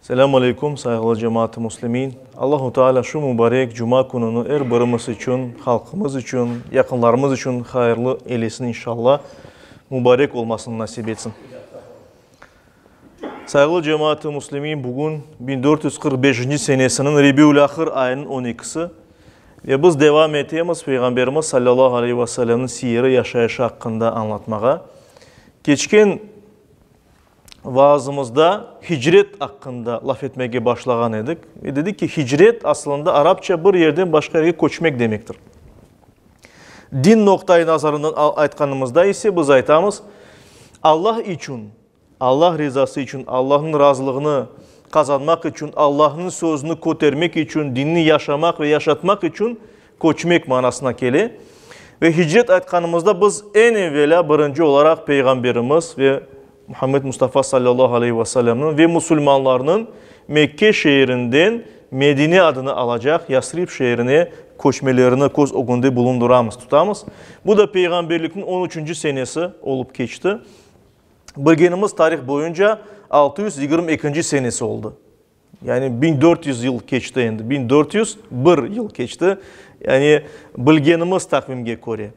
Selâm aleykum, sayğılı cemaat-ı muslimin! Allahu Teala şu mubarek cuma kününi er birimiz içün, halqımız içün, yaqınlarımız içün hayırlı eylesin inşalla, mubarek olmasını nasip etsin. Sayğılı cemaat-ı muslimin, bugün biñ dört yüz qırq beşinci senesiniñ Rebiül-Ahır ayınıñ on ekisi ve biz devam etemiz Peyğamberimiz sallallahu aleyhi ve sellemniñ siyeri, yaşayışı aqqında añlatmağa. Keçken vaazımızda hicret aqqında laf etmege başlağan edik. Ve dedik ki, hicret aslında arapça bir yerden başqa yerge köçmek demektir. Din noqtayı nazarından aytqanımızda ise biz aytamız, Allah içün, Allah rizası içün, Allahnıñ razılığını qazanmaq içün, Allahnıñ sözüni kötermek içün, dinni yaşamaq ve yaşatmaq içün Köçmek manasına kele. Ve hicret aytqanımızda biz eñ evelâ birinci olaraq Peyğamberimiz ve Muhammed Mustafa sallallahu aleyhi ve sellemniñ ve musulmanlarnıñ Mekke şeerinden Medine adını alacaq Yasrib şeerine köçmelerini köz ögünde bulundıramız, tutamız. Bu da Peyğamberlikniñ on üçünci senesi olıp keçti. Bilgenimiz tarih boyunca altı yüz yigirmi ekinci senesi oldı. Yani biñ dört yüz yıl keçti endi, biñ dört yüz bir yıl keçti, yani bilgenimiz taqvimge köre.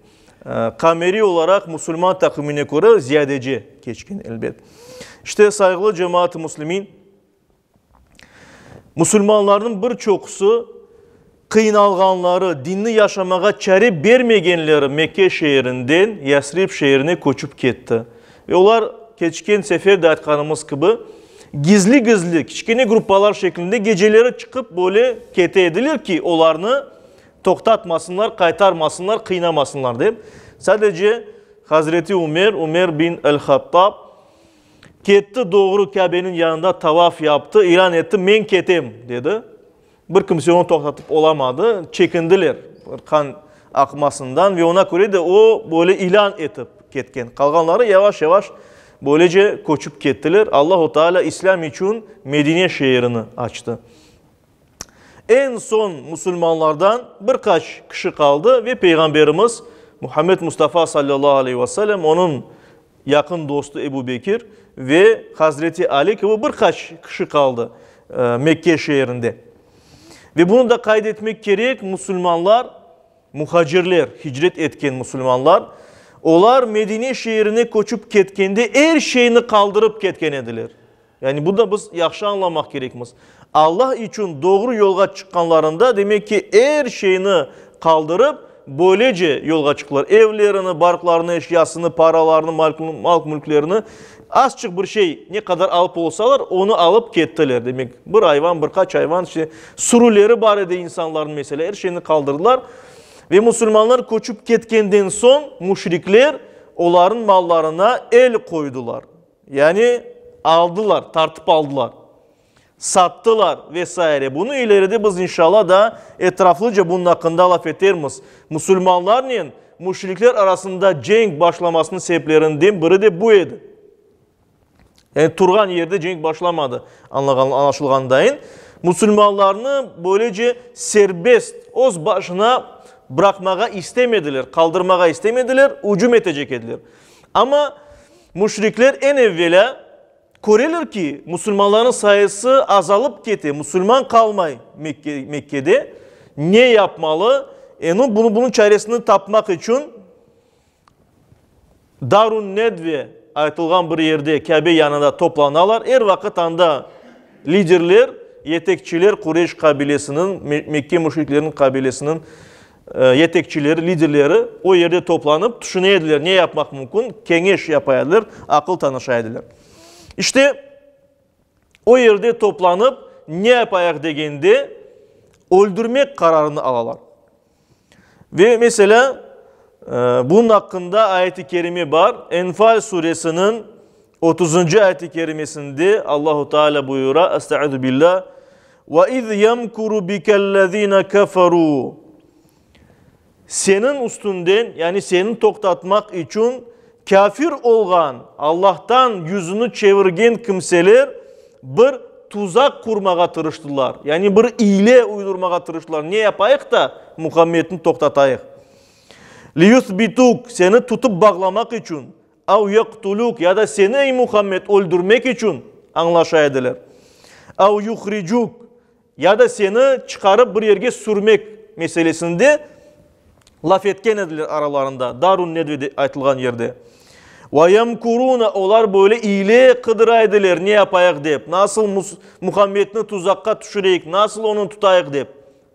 Qameriy olaraq musulman taqvimine köre ziyadece keçken, elbet. İşte, sayğılı cemaat-i muslimin, musulmanlarnıñ bir çoqusı, Qıynalğanları, dinni yaşamağa çare bermegenleri Mekke şeerinden Yasrib şeerine köçip ketti. Ve olar, keçken sefer de aytqanımız kibi, gizli-gizli, kiçkene gruppalar şeklinde geceleri çıqıp böyle kete ediler ki, olarnı toqtatmasınlar, qaytarmasınlar, qıynamasınlar dep. Sadece Hazreti Ümer, Ümer bin el-Hattab, ketti, doğru Kâbeniñ yanında tavaf yaptı, ilan etti, men ketem, dedi. Bir kimse onı toqtatıp olamadı, çekindiler qan aqmasından ve oña köre de o, böyle ilân etip ketken. Qalğanları yavaş-yavaş böylece köçip kettiler. Allahu Teala İslâm içün Medine şeerini açtı. Eñ soñ musulmanlardan bir qaç kişi qaldı ve Peyğamberimiz Muhammed Mustafa sallallahu aleyhi ve sellem onıñ yaqın dostu Ebu Bekir ve Hazreti Ali kibi bir qaç kişi qaldı Mekke şeerinde. Ve bunı da qayd etmek kerek, musulmanlar, muhacirler, hicret etken musulmanlar, olar Medine şeerine köçip ketkende er şeyni qaldırıp ketken ediler. Yani bunda biz yahşı añlamaq kerekmiz. Alla içün doğru yolğa çıqqanlarında, demek ki, er şeyni qaldırıp, böylece yolğa çıqtılar. Evlerini, barqlarını, eşyasını, paralarını, mal-mülklerini, azçıq bir şey, ne qadar alıp olsalar, onı alıp kettiler. Demek, bir ayvan, bir qaç ayvan, işte, sürüleri bar edi insanlarnıñ, meselâ, er şeyni qaldırdılar. Ve musulmanlar köçip ketkenden soñ, müşrikler olarnıñ mallarına el qoydılar. Yani aldılar, tartıp aldılar, sattılar ve saire. Bunı ileride biz inşalla daa etraflıca bunun aqqında laf etermiz. Musulmanlarnen müşrikler arasında cenk başlamasınıñ sebeplerinden biri de bu edi. Yani turğan yerde cenk başlamadı, añlaşılğanındain. Musulmanlarnı böylece serbest, öz başına bıraqmağa istemediler, qaldırmağa istemediler, ücüm etecek ediler. Amma Müşrikler eñ evvelâ köreler ki, musulmanlarnıñ sayısı azalıp kete, musulman qalmay Mekkede, ne yapmalı? Eñi bunıñ çaresini tapmaq içün Darun-Nedve aytılğan bir yerde, Kâbe yanında toplanalar. Er vaqıt anda liderler, yetekçiler Qureyş qabilesiniñ, Mekke müşrikleriniñ qabilesiniñ yetekçileri, liderleri o yerde toplanıp, tüşüne ediler, ne yapmaq mümkün, keñeş yapa ediler, aqıl tanışa ediler. İşte, o yerde toplanıp, ne yapayıq degende, öldürmek qararını alalar. Ve, meselâ, bunun aqqında ayet-i kerime bar, Enfal suresiniñ Otuzıncı ayet-i kerimesinde Allahu Teala buyura, Estaizu billâ, Ve iz yemkuru bikellezine keferû Seniñ üstünden, yani seni toqtatmaq içün kâfir olğan, Allahtan yüzüni çevirgen kimseler bir tuzaq qurmağa tırıştılar, yani bir iyle uydurmağa tırıştılar, ne yapayıq da Muhammedni toqtatayıq? Liyusbituk, seni tutıp bağlamaq içün, Av yaqtulük ya da seni, ey Muhammed, öldürmek içün añlaşa ediler. Av yuhricük ya da seni çıqarıp bir yerge sürmek meselesinde laf etken ediler aralarında, Darun Nedvede aytılğan yerde. Ve yemkurune, olar böyle ile qıdıra ediler, ne yapayıq dep, nasıl Muhammedni tuzaqqa tüşüreyik, nasıl onı tutayıq dep.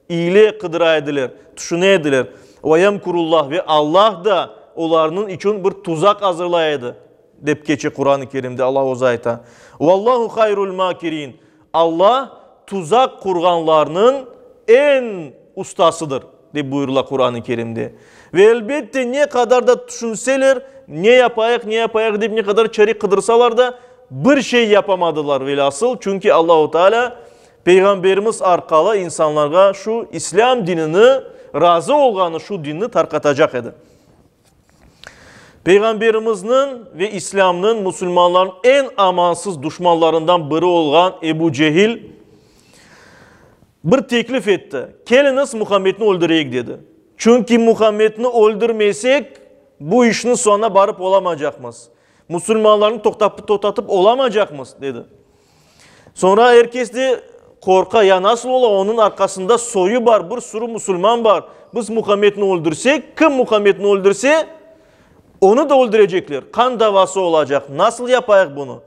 İle qıdıra ediler, tüşüne ediler. Ve yemkurullah, ve Allah da olarnıñ içün bir tuzaq azırlay edi, dep keçe Quran-ı Kerimde, Allah Özü ayta. Vallahu hayrul makirin, Allah tuzaq qurğanlarnıñ eñ ustasıdır, dep buyurıla Quran-ı Kerimde. Ve elbette, ne qadar da tüşünseler, ne yapayıq, ne yapayıq dep ne qadar çare qıdırsalar da, bir şey yapamadılar velâsıl, çünki Allahu Teala. Peyğamberimiz arqalı insanlarğa şu İslâm dinini, razı olğanı şu dinni tarqatacaq edi. Peyğamberimizniñ ve İslâmnıñ musulmanlarnıñ eñ amansız duşmanlarından biri olğan Ebu Cehil bir teklif etti, Keliñiz, Muhammedni öldüreyik, dedi. Çünki Muhammedni öldürmesek, bu işniñ soñuna barıp olamacaqmız, musulmanlarnı toqtatıp olamaycaqmız, dedi. Soñra er kes de qorqa, ya nasıl ola, onıñ arqasında soyu bar, bir sürü musulman bar, biz Muhammedni öldürsek, kim Muhammedni öldürse, onı da öldürecekler, qan davası olacaq, nasıl yapayıq bunı?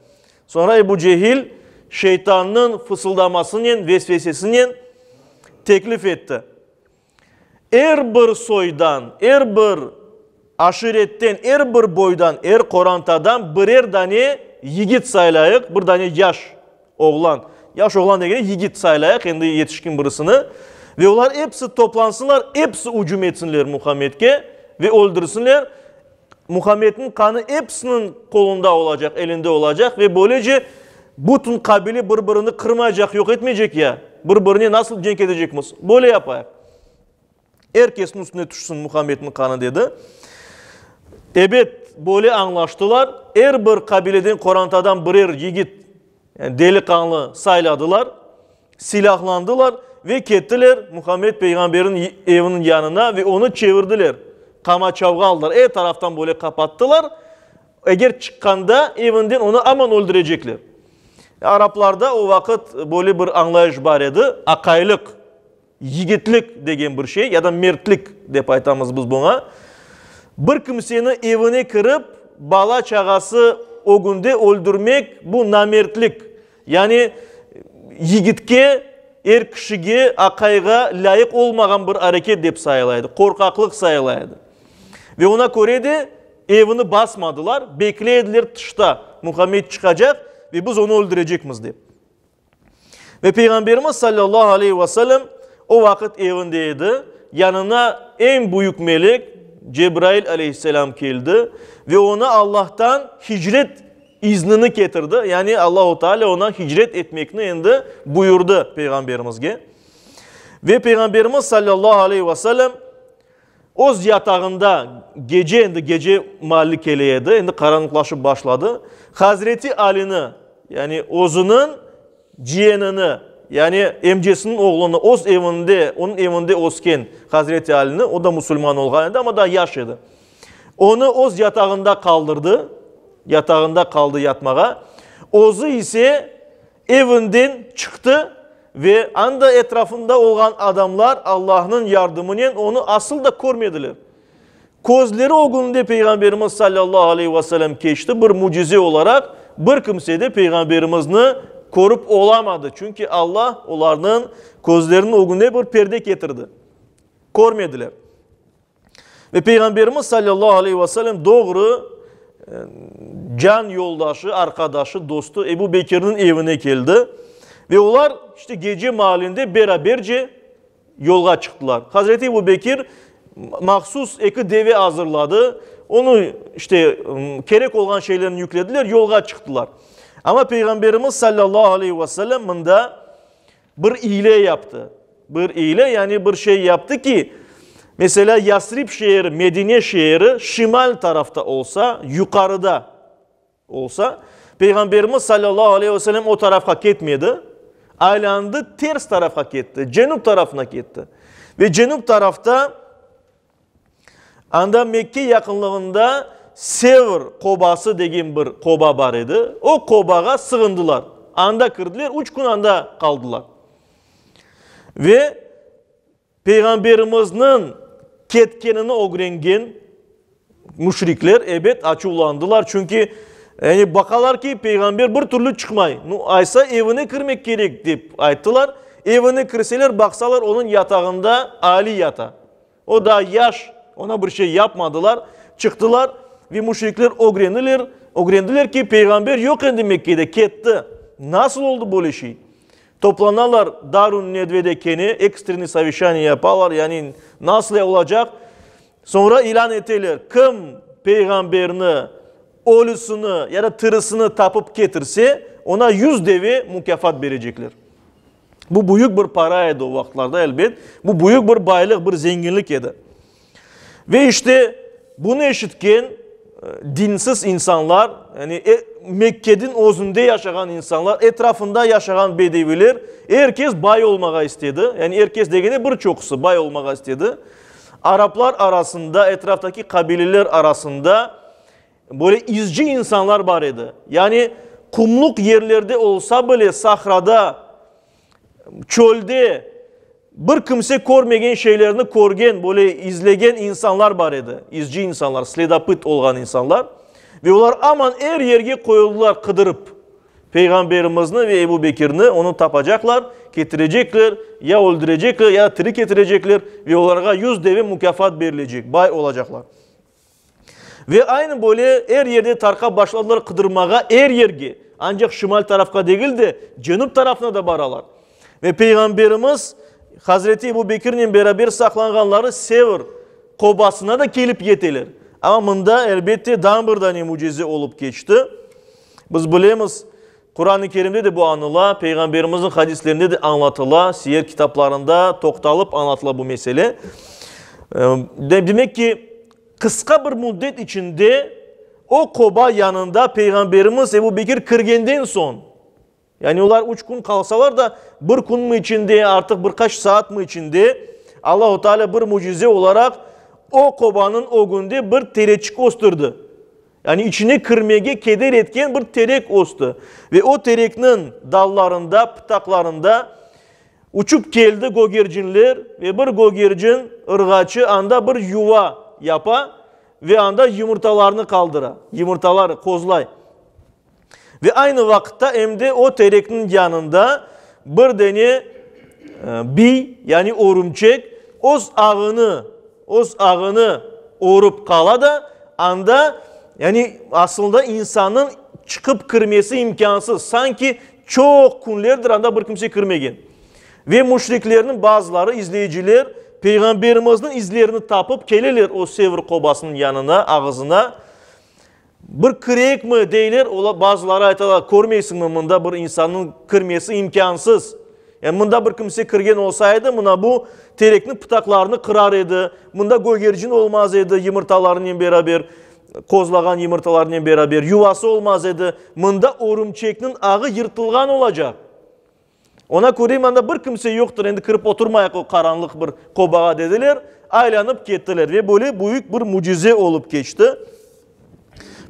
Soñra Ebu Cehil şeytannıñ fısıldamasınen, vesvesesinen teklif etti. Er bir soydan, er bir aşiretten, er bir boydan, er qorantadan birer dane yigit saylayıq, bir dane yaş oğlan. Yaş oğlan degende yigit saylayıq, endi yetişkin birisini. Ve olar episi toplansınlar, episi ücüm etsinler Muhammedke ve öldürsinler. Muhammedniñ qanı episiniñ qolunda olacaq, elinde olacaq ve böylece bütün qabile bir-birini qırmaycaq, yoq etmeycek ya. Bir-birine nasıl cenk etecekmiz? Böyle yapayıq. Er kesniñ üstüne tüşsin Muhammedniñ qanı, dedi. Ebet, böyle añlaştılar. Er bir qabileden qorantadan birer yigit Deliqanlı sayladılar, silâhlandılar ve kettiler Muhammed peyğamberniñ eviniñ yanına ve onı çevirdiler, qamaçavğa aldılar, er taraftan böyle qapattılar, eger çıqqanda evinden onı aman öldürecekler. Araplarda o vaqıt böyle bir añlayış bar edi, aqaylıq. Yigitlik degen bir şey, ya da mertlik dep aytamız biz buña, bir kimseni evine kirip, bala-çağası ögünde öldürmek, bu namertlik. Yani yigitke, er kişige, aqayğa lâyıq olmağan bir areket dep sayıla edi, qorqaqlıq sayıla edi. Ve oña köre de evini basmadılar, bekley ediler tışta, Muhammed çıqacaq ve biz onı öldürecekmiz dep. Ve Peyğamberimiz sallallahu aleyhi ve sellem o vaqıt evinde edi, yanına eñ büyük melek Cebrail aleyhisselam keldi ve oña Allahtan hicret iznini ketirdi, yani Allahu Teala oña hicret etmekni endi buyurdı Peyğamberimizge. Ve Peyğamberimiz sallallahu aleyhi ve sellem Öz yatağında gece, endi gece mahalli kele edi, endi qaranlıqlaşıp başladı, hazreti Alini, yani özüniñ ciyenini, yani emcesiniñ oğlunı, öz evinde, onıñ evinde ösken hazreti Alini, o da musulman olğan edi, amma daa yaş edi, onı öz yatağında qaldırdı, yatağında qaldı yatmağa, özü ise Evinden çıqtı ve anda etrafında olğan adamlar Allahnıñ yardımınen onı asıl da körmediler. Közleri ögününde Peyğamberimiz sallallahu aleyhi ve selem keçti, bir mücize olaraq bir kimse de Peyğamberimizni körip olamadı, çünki Alla olarnıñ közleriniñ ögününe bir perde ketirdi, körmediler. Ve Peyğamberimiz salâllahu aleyhi ve sellem doğru can yoldaşı, arqadaşı, dostu Ebu Bekirniñ evine keldi. Ve olar işte gece maalinde beraberce yolğa çıqtılar. Hazreti Ebu Bekir mahsus eki deve azırladı. Onu işte kerek olğan şeylerini yüklediler, yolğa çıqtılar. Amma Peyğamberimiz salâllahu aleyhi ve sellem mında Bir iyle yaptı. Bir iyle, yani bir şey yaptı ki, meselâ, Yasrib şeeri, Medine şeeri şimal tarafta olsa, yuqarıda olsa, Peyğamberimiz salâllahu aleyhi ve selem o tarafqa ketmedi, aylandı, ters tarafqa ketti, cenüp tarafına ketti. Ve cenüp tarafta. Anda Mekke yaqınlığında Sevr qobası degen bir qoba bar edi. O qobağa sığındılar. Anda kirdiler, üç kün anda qaldılar. Ve Peyğamberimizniñ ketkenini ögrengen müşrikler, ebet, açuvlandılar. Çünki, yani, baqalar ki, Peyğamber bir türlü çıqmay. Nu, aysa evine kirmek kerek, dep ayttılar. Evine kirseler, baqsalar, onıñ yatağında Ali yata. O daa yaş, oña bir şey yapmadılar. Çıqtılar ve müşrikler ögreniler, ögrendiler ki, Peyğamber yoq endi Mekkede, ketti. Nasıl oldı böyle şey? Toplanalar Darun Nedvede kene, ekstrenniy soveşaniye yapalar, yani nasıl olacaq? Soñra ilân eteler, kim Peyğamberni, ölüsini ya da tirisini tapıp ketirse, oña yüz deve mukâfat berecekler. Bu büyük bir para edi o vaqıtlarda, elbet. Bu büyük bir baylıq, bir zenginlik edi. Ve işte bunı eşitken dinsiz insanlar, yani e, Mekkedin özünde yaşağan insanlar, etrafında yaşağan bedeviler, herkes bay olmağa istedi. Yani herkes degene bir çoqusı bay olmağa istedi. Araplar arasında, etraftaki kabileler arasında Böyle izci insanlar bar edi. Yani qumluq yerlerde olsa bile, sahrada, çölde bir kimse körmegen şeylerni körgen, böyle izlegen insanlar bar edi. İzci insanlar, sledopıt olğan insanlar. Ve olar aman er yerge qoyuldılar qıdırıp Peyğamberimizni ve Ebu Bekirni, onı tapacaqlar, ketirecekler, ya öldürecekler, ya tiri ketirecekler ve olarğa yüz deve mukâfat berilecek, bay olacaqlar. Ve aynı böyle er yerde tarqap başladılar qıdırmağa, er yerge, ancaq şimal tarafqa degil de, cenüp tarafına da baralar. Ve Peyğamberimiz Hazreti Ebu Bekirnen beraber saqlanğanları Sevr qobasına da kelip yeteler. Amma mında, elbette, dan bir dane mücize olıp keçti. Biz bilemiz, Quran-ı Kerimde de bu añıla, Peyğamberimizniñ hadislerinde de añlatıla, siyer kitaplarında toqtalıp añlatıla bu mesele. Demek ki, qısqa bir müddet içinde o Quba yanında Peyğamberimiz Ebu Bekir kirgenden soñ, yani olar üç kün qalsalar da, bir künmi içinde, artıq bir qaç saatmi içinde Allahu Teala bir mücize olaraq o Qubanıñ ögünde bir tereçik östürdi. Yani içine kirmege keder etken bir terek östü ve o terekniñ dallarında, pıtaqlarında uçıp keldi gögercinler ve bir gögercin ırğaçı anda bir yuva yapa ve anda yumurtalarını qaldıra, yumurtaları qozlay. Ve aynı vaqıtta em de o terekniñ yanında bir dene biy, yani örümçek öz ağını, öz ağını örüp qala da, anda, yani asılında insannıñ çıqıp kirmesi imkânsız, sanki çoq künlerdir anda bir kimse kirmegen. Ve müşriklerniñ bazıları, izleyiciler, Peyğamberimizniñ izlerini tapıp keleler o Sevr qobasınıñ yanına, ağızına. Bir kirekmi, deyler, ola, bazıları aytalar, körmeysiñmi, mında bir insannıñ kirmesi imkânsız. Yani mında bir kimse kirgen olsa edi, mına bu terekniñ pıtaqlarını qırar edi, mında gögercin olmaz edi yımırtalarınen beraber, qozlağan yımırtalarınen beraber, yuvası olmaz edi, mında örümçekniñ ağı yırtılğan olacaq. Oña köre imanda bir kimse yoqtır, endi kirip oturmayıq o qaranlıq bir qobağa, dediler, aylanıp kettiler ve böyle büyük bir mücize olıp keçti.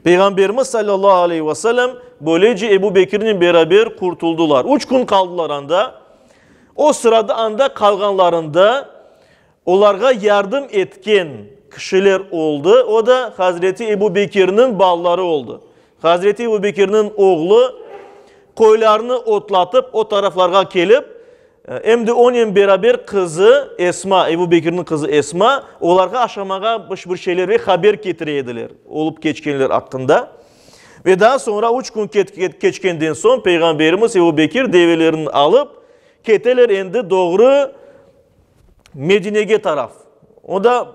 Peyğamberimiz sallallahu aleyhi ve sellem böylece Ebu Bekirnen beraber qurtuldılar. Üç kün qaldılar anda. O sırada anda qalğanlarında, Olarğa yardım etken kişiler oldı, o da Hazreti Ebu Bekirniñ balaları oldı. Hazreti Ebu Bekirniñ oğlu qoylarnı otlatıp o taraflarğa kelip, em de onen beraber qızı Esma, Ebu Bekirniñ qızı Esma, olarğa aşamağa bir bir şeyler ve haber ketire ediler, olıp keçkenler aqqında. Ve daa soñra üç kün keçkenden soñ Peyğamberimiz Ebu Bekir develerni alıp keteler endi doğru. Medinege taraf. O da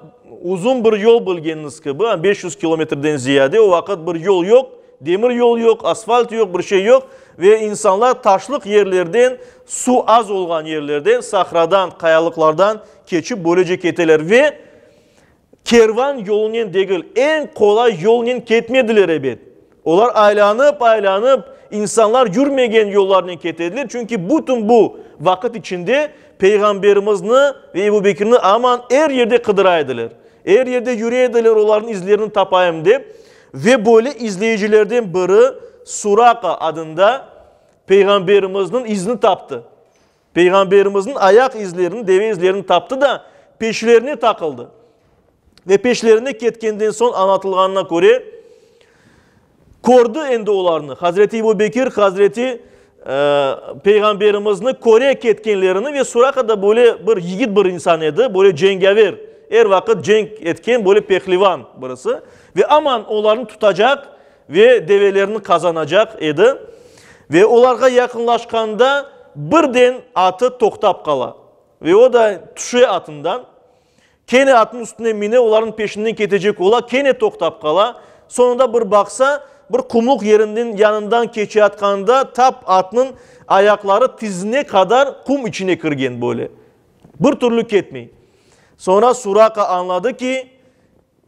uzun bir yol bilgeniñiz kibi, beş yüz kilometrden ziyade. O vaqıt bir yol yoq, demir yol yoq, asfalt yoq, bir şey yoq. Ve insanlar taşlıq yerlerden, suv az olğan yerlerden, sahradan, qayalıqlardan keçip, böylece keteler. Ve Kervan yolunen degil, eñ qolay yolnen ketmediler, ebet. Olar aylanıp-aylanıp, insanlar yürmegen yollarnen ketediler, çünki bütün bu vaqıt içinde Peyğamberimizni ve Ebu Bekirni aman er yerde qıdıra ediler. Er yerde yüre ediler olarnıñ izlerini tapayım dep. Ve böyle izleyicilerden biri Suraqa adında Peyğamberimizniñ izini taptı. Peyğamberimizniñ ayaq izlerini, deve izlerini taptı da, peşlerine taqıldı. Ve peşlerine ketkenden soñ, añlatılğanına köre, kördi endi olarnı, Hazreti Ebu Bekir, Hazreti Peyğamberimizni köre ketkenlerini ve Suraqa da böyle bir yigit bir insan edi, böyle cengâver, er vaqıt cenk etken, böyle pehlivan birisi. Ve aman olarnı tutacaq Ve develerni qazanacaq edi. Ve olarğa yaqınlaşqanda, birden atı toqtap qala. Ve o da tüşe atından, kene atnıñ üstüne mine, olarnıñ peşinden ketecek ola, kene toqtap qala. Soñunda bir baqsa, bir qumluq yeriniñ yanından keçeyatqanda, tap atnıñ ayaqları tizine qadar qum içine kirgen böyle. Bir türlü ketmey. Soñra Suraka añladı ki,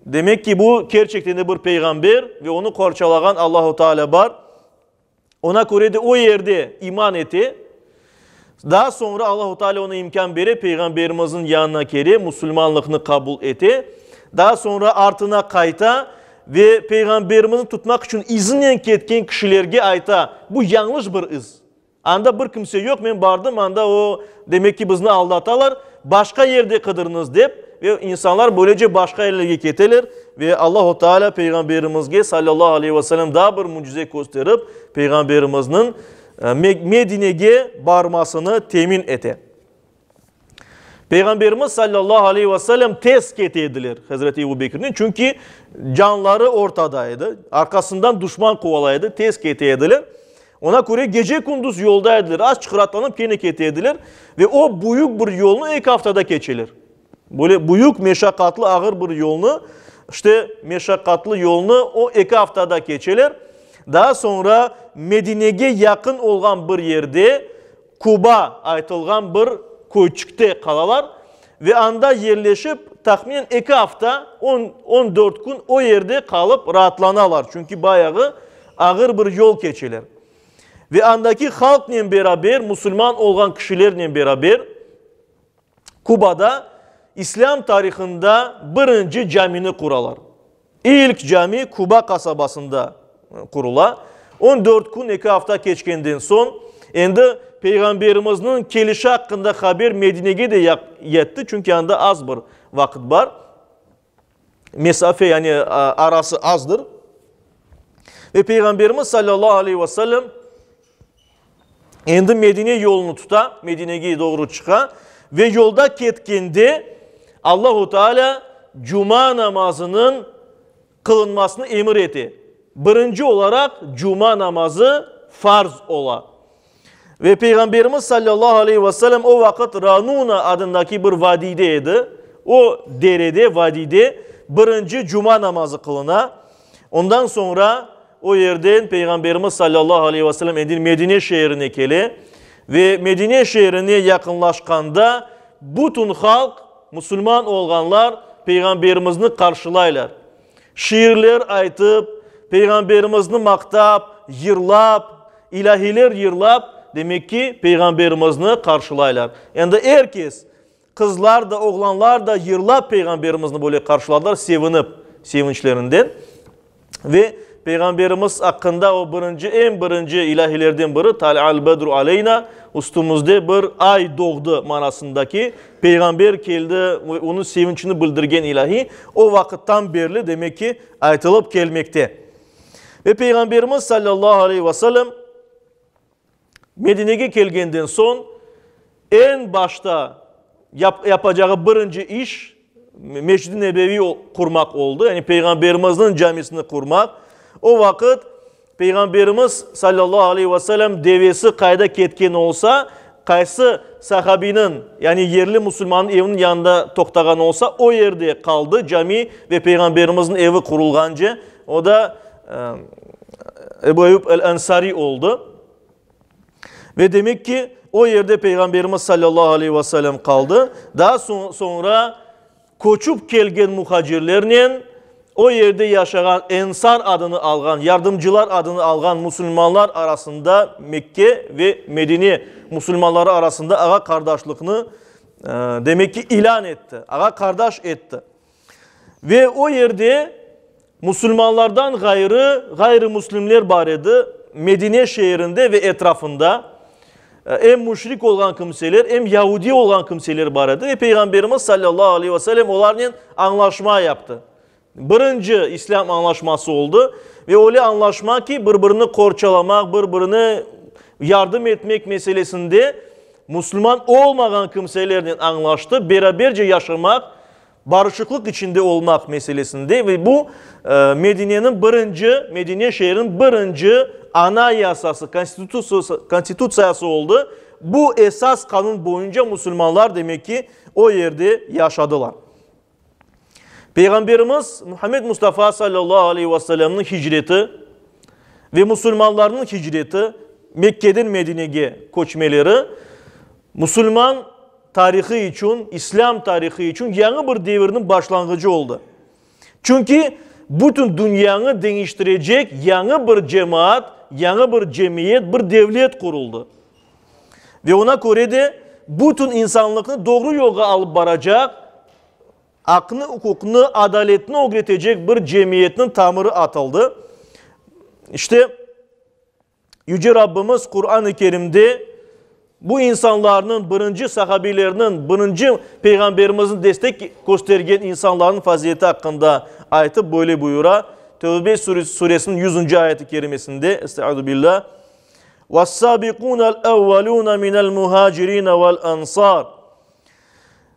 Demek ki, bu, kerçekten de bir peyğamber ve onı qorçalağan Allahu Teala bar. Oña köre de o yerde iman ete. Daa soñra Allahu Teala oña imkân bere, peyğamberimizniñ yanına kele, musulmanlıqnı qabul ete. Daa soñra artına qayta ve peyğamberimizni tutmaq içün izinnen ketken kişilerge ayta, bu yañlış bir iz. Anda bir kimse yoq, men bardım, anda o, demek ki, bizni aldatalar, başqa yerde qıdırıñız, dep, ve insanlar böylece başqa yerlerge keteler. Ve Allahu Teala Peyğamberimizge, sallallahu aleyhi ve selem, daa bir mücize kösterip, Peyğamberimizniñ Medinege barmasını temin ete. Peyğamberimiz sallallahu aleyh ve sellem tez kete ediler Hazreti Ebu Bekirnen, çünki canları ortada edi, arqasından duşman quvalay edi, tez kete ediler. Ona köre gece kunduz yolda ediler, az çıqıratlanıp kene kete ediler ve o büyük bir yolnu eki aftada keçeler. Böyle büyük meşakkatlı ağır bir yolnu, işte meşakkatlı yolnu o eki aftada keçeler. Daa soñra Medinege yaqın olğan bir yerde, Kuba aytılğan bir köyçikte qalalar ve anda yerleşip, tahminen eki afta, on, on dört kün o yerde qalıp raatlanalar, çünki bayağı ağır bir yol keçeler. Ve andaki halqnen beraber, musulman olğan kişilernen beraber, Kubada islâm tarihında birinci camini quralar. İlk cami Kuba qasabasında qurula. On dört kün, eki afta keçkenden soñ, endi Peyğamberimizniñ kelişi aqqında haber Medinege de yetti, çünki anda az bir vaqıt bar. mesafe, yani arası azdır. Ve Peyğamberimiz sallallahu aleyhi ve sellem endi Medine yolunu tuta, Medinege doğru çıqa ve yolda ketkende Allahu Teala cuma namazınıñ qılınmasını emir ete. Birinci olaraq cuma namazı farz ola. Ve Peyğamberimiz sallallahu aleyh ve sellem o vaqıt Ranuna adındaki bir vadiyde edi. O derede, vadiyde birinci cuma namazı qılına. Ondan soñra o yerden Peyğamberimiz sallallahu aleyh ve sellem endi Medine şeerine kele. Ve Medine şeerine yaqınlaşqanda bütün halq, musulman olğanlar Peyğamberimizni qarşılaylar. Şiirler aytıp, Peyğamberimizni maqtap, yırlap, ilâhiler yırlap, demek ki, Peyğamberimizni qarşılaylar. Endi er kes, qızlar da, oğlanlar da yırlap Peyğamberimizni böyle qarşıladılar, sevinip, sevinçlerinden. Ve Peyğamberimiz aqqında o birinci, eñ birinci ilâhilerden biri, Talâ'l bedru aleyna, üstümizde bir ay doğdı manasındaki Peyğamber keldi ve onıñ sevinçini bildirgen ilâhiy, o vaqıttan berli, demek ki, aytılıp kelmekte. Ve Peyğamberimiz sallallahu aleyhi ve sellem Medinege kelgenden soñ, eñ başta yap, yapacağı birinci iş Mescid-i Nebeviy qurmaq oldı, yani Peyğamberimizniñ camisini qurmaq. O vaqıt Peyğamberimiz sallallahu aleyh ve sellem devesi qayda ketken olsa, qaysı sahabiniñ, yani yerli musulmannıñ eviniñ yanında toqtağan olsa, o yerde qaldı, cami ve Peyğamberimizniñ evi qurulğance, o da Ebu Eyyub el-Ensari oldı. Ve demek ki, o yerde Peyğamberimiz sallallahu aleyh ve sellem qaldı. Daa soñra Köçip kelgen muhacirlernen o yerde yaşağan Ensar adını alğan, Yardımcılar adını alğan musulmanlar arasında Mekke ve Medine musulmanları arasında ağa-qardaşlıqnı, demek ki, ilân etti, ağa-qardaş etti. Ve o yerde Musulmanlardan ğayrı, ğayrımüslimler bar edi, Medine şeerinde ve etrafında em müşrik olğan kimseler, em yahudi olğan kimseler bar edi ve Peyğamberimiz sallallahu aleyh ve sellem olarnen añlaşma yaptı. Birinci İslâm añlaşması oldı ve öyle añlaşma ki, bir-birini qorçalamaq, bir-birine yardım etmek meselesinde musulman olmağan kimselernen añlaştı, beraberce yaşamaq Barışıqlıq içinde olmaq meselesinde ve bu, Medineniñ birinci, Medine şeeriniñ birinci ana yasası, konstitutsiyası oldı. Bu esas qanun boyunca musulmanlar demek ki, o yerde yaşadılar. Peyğamberimiz Muhammed Mustafa sallallahu aleyh ve sellemniñ hicreti ve musulmanlarnıñ hicreti, Mekkeden Medinege köçmeleri, musulman, tarihı içün, İslâm tarihı içün yañı bir devirniñ başlanğıcı oldı. Çünki bütün dünyanı deñiştirecek yañı bir cemaat, yañı bir cemiyet, bir devlet quruldı. Ve oña köre de bütün insanlıqnı doğru yolğa alıp baracaq, aqnı, uquqnı, adaletni ögretecek bir cemiyetniñ tamırı atıldı. İşte, Yüce Rabbimiz Quran-ı Kerimde bu insanlarnıñ, birinci sahabiylerniñ, birinci Peyğamberimizniñ destek köstergen insanlarnıñ fazileti aqqında aytıp, böyle buyura, Tevbe suresiniñ yüzünci ayet-i kerimesinde, Estaizu billâh, Ve's-sâbiqûnel evvelûne minel muhâcirîne vel-ensâr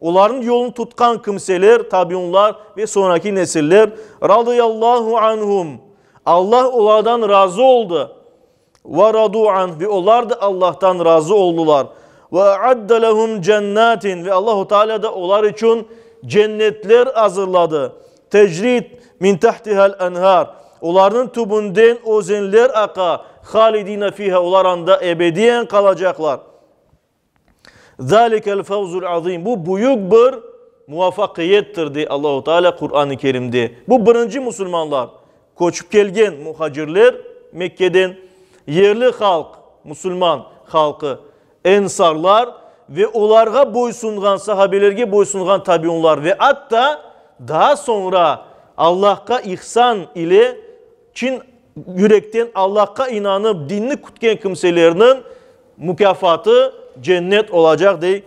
Olarnıñ yolun tutqan kimseler, tabiunlar ve soñraki nesiller, radıyallahu anhum, Allah olardan razı oldı, ve radu anh, ve olar da Allahtan razı oldılar, ve a'adde lehum cennatin, ve Allahu Teala da olar içün cennetler azırladı, tecri min tahtiha'l enhar, olarnıñ tübünden özenler aqa, halidine fiha, olar anda ebediyen qalacaqlar. Zâlikel fevzul azîm, bu büyük bir muvafaqiyettir, dey Allahu Teala Quran-ı Kerimde. Bu birinci musulmanlar, köçip kelgen muhacirler Mekke'den, yerli halq, musulman halqı, ensarlar ve olarğa boysunğan, sahabelerge boysunğan tabiunlar ve atta daa soñra Allahqa ihsan ile Çın yürekten Allahqa inanıp, dinni kütken kimselerniñ mukâfatı cennet olacaq, dey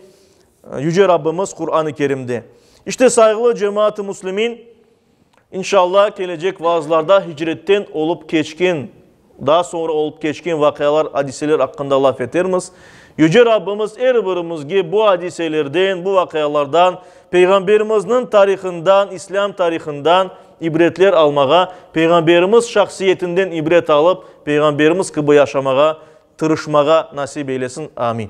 Yüce Rabbimiz Quran-ı Kerimde. İşte, sayğılı cemaat-ı muslimin, inşallah, kelecek vaazlarda hicretten olıp keçken, daa soñra olıp keçken vaqialar, adiseler aqqında laf etermiz. Yüce Rabbimiz er birimizge bu adiselerden, bu vaqialardan, Peyğamberimizniñ tarihından, islâm tarihından İbretler almağa, Peyğamberimiz şahsiyetinden ibret alıp, Peyğamberimiz kibi yaşamağa tırışmağa nasip eylesin. Amin.